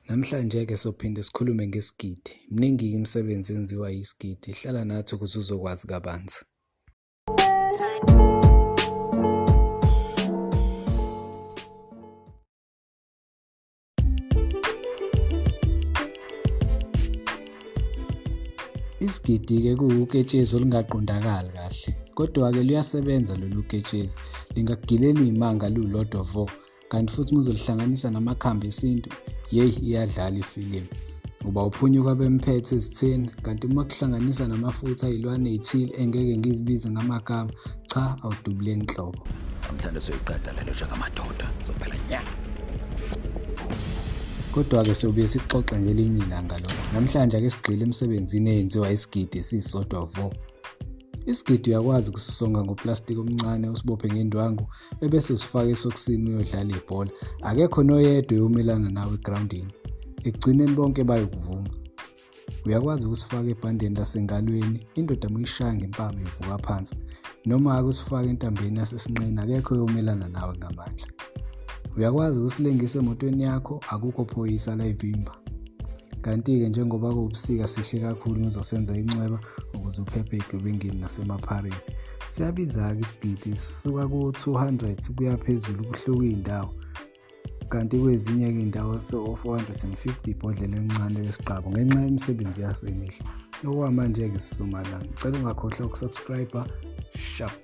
Namhlanje-ke sophinde sikhulume ngesigidi. Mningi-ke imisebenzi enziwa yisigidi. Hlala nathi ukuze uzokwazi kabanzi. Isigidi-ke kuwuketshezi olungaqondakali kahle. Kodwa-ke luyasebenza lolu ketshezi. Lingakugileli imanga lulodwa vo. kanti futhi uma uzolihlanganisa namakhambi esintu yeyi iyadlala ifilimu ngoba uphunyuka bemphethe esitheni kanti uma kuhlanganisa namafutha ayilwane ithile engeke ngizibize ngamagama cha awudubule nhlobo namhlanje soyiqeda lelo njengamadoda zophela nya kodwa-ke sobuye sixoxe ngelinye ilanga lokho namhlanje ake sigxile emsebenzini eyenziwa isigidi esisodwa vo isigidi uyakwazi ukusisonga ngoplastiki omncane usibophe ngendwangu ebese usifaka esokisini uyodlala ibhola akekho noyedwa eyomelana nawe egroundini ekugcineni bonke bayokuvuma uyakwazi ukusifaka ebhandeni lasengalweni indoda muyishaya ngempama ivuka phansi noma-ke usifaka entambeni yasesinqeni akekho eyomelana nawe ngamandla uyakwazi ukusilengisa emotweni yakho akukho phoyisa layivimba kanti-ke njengoba kuwubusika sihle kakhulu ngizosenza incweba ukuze uphephe egebengini nasemaphareni siyabiza-ke isigidi sisuka ku-200 kuya phezulu kuhluka iy'ndawo kanti kwezinye-ke iy'ndawo so-450 ibhodlela elincane lesigqabo ngenxa yemisebenzi yaso emihle okwamanje-ke sisumala ngicela ungakhohlwa ukusubscribe sharp